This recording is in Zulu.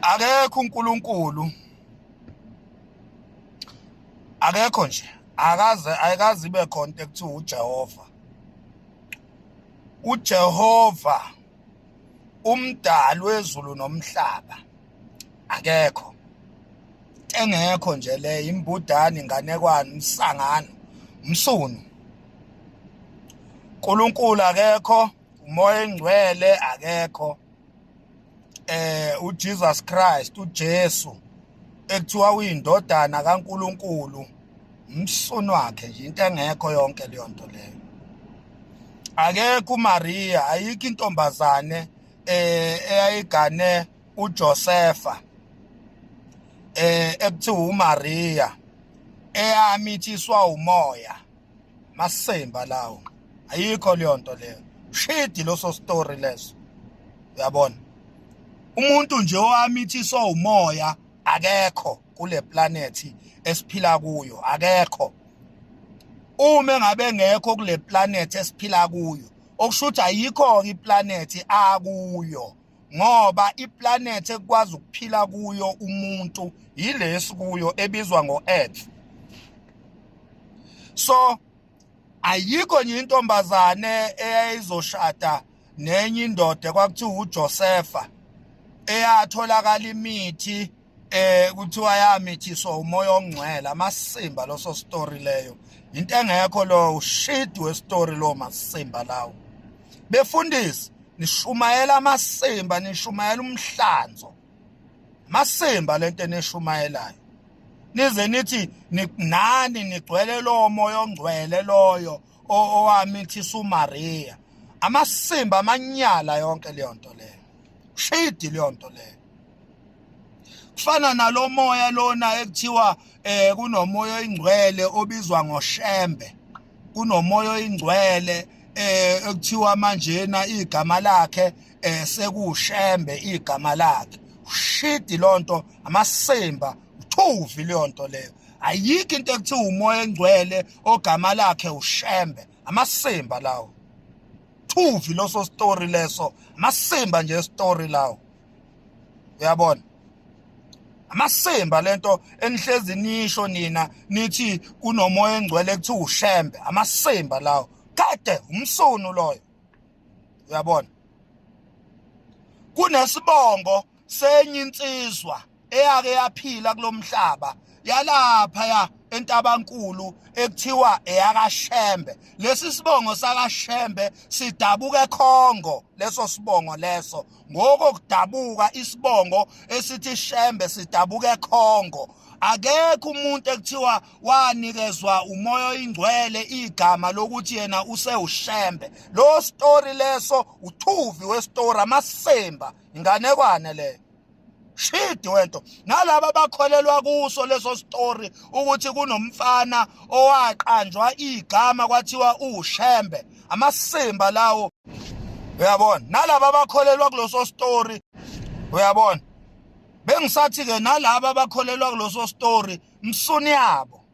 akekho uNkulunkulu akekho nje akaze ayikaze ibe khona into ekuthiwa uJehova uJehova umdali wezulu nomhlaba akekho engekho nje le imbudani inganekwane umsangano umsunu uNkulunkulu akekho umoya engcwele akekho eh uJesus Christ uJesu ekuthiwa uyindodana kaNkuluNkulu umsunu wakhe nje into engekho yonke leyo nto leyo akekho uMaria ayikho intombazane eh eyayigane uJosefa eh ekuthiwa uMaria eyami ithiswa umoya masemba lawo ayikho leyo nto leyo shidi loso story leso uyabona umuntu nje owamithiswa umoya akekho kule planet esiphila kuyo akekho uma engabe ngekho kule planet esiphila kuyo okusho ukuthi ayikho-ke iplanethi akuyo ngoba iplanet ekwazi ukuphila kuyo umuntu yilesi kuyo ebizwa ngo-earth so ayikho nje intombazane eyayizoshada nenye indoda kwakuthiwa uJosefa eyatholakala imithi eh kuthiwa yamithiswa umoya ongcwele amasimba loso story leyo into engekho lo ushidi we story lo masimba lawo befundisi nishumayela amasimba nishumayela umhlanzo masimba lento enishumayelayo nize nithi nani nigcwele lowo moya ongcwele loyo owamithisa uMaria amasimba amanyala yonke leyo nto leyo shidi leyo nto leyo kufana nalomoya lona ekuthiwa eh kunomoya oyingcwele obizwa ngoshembe kunomoya oyingcwele eh ekuthiwa manjena igama lakhe eh sekushembe igama lakhe ushidi lonto amasimba uthuvi leyonto leyo ayikho into ekuthiwa umoya engcwele ogama lakhe ushembe amasimba lawo thuvi loso story leso amasimba nje story lawo uyabona amasimba lento enihlezi nisho nina nithi kunomoya engcwele kuthi ushembe amasimba lawo kade umsunu loyo uyabona kunesibongo senye insizwa eyake yaphila kulomhlaba yalapha ya entabankulu ekuthiwa eyakashembe lesi sibongo sakashembe sidabuka ekhongo leso sibongo leso ngoko kudabuka isibongo esithi shembe sidabuka ekhongo akekho umuntu ekuthiwa wanikezwa umoya oyingcwele igama lokuthi yena usewushembe lo story leso uthuvi we story amasemba inganekwane leyo shidi wento nalaba bakholelwa kuso leso story ukuthi kunomfana owaqanjwa igama kwathiwa ushembe amasimba lawo uyabona nalaba bakholelwa kuloso story uyabona bengisathi ke nalaba bakholelwa kuloso story msuni yabo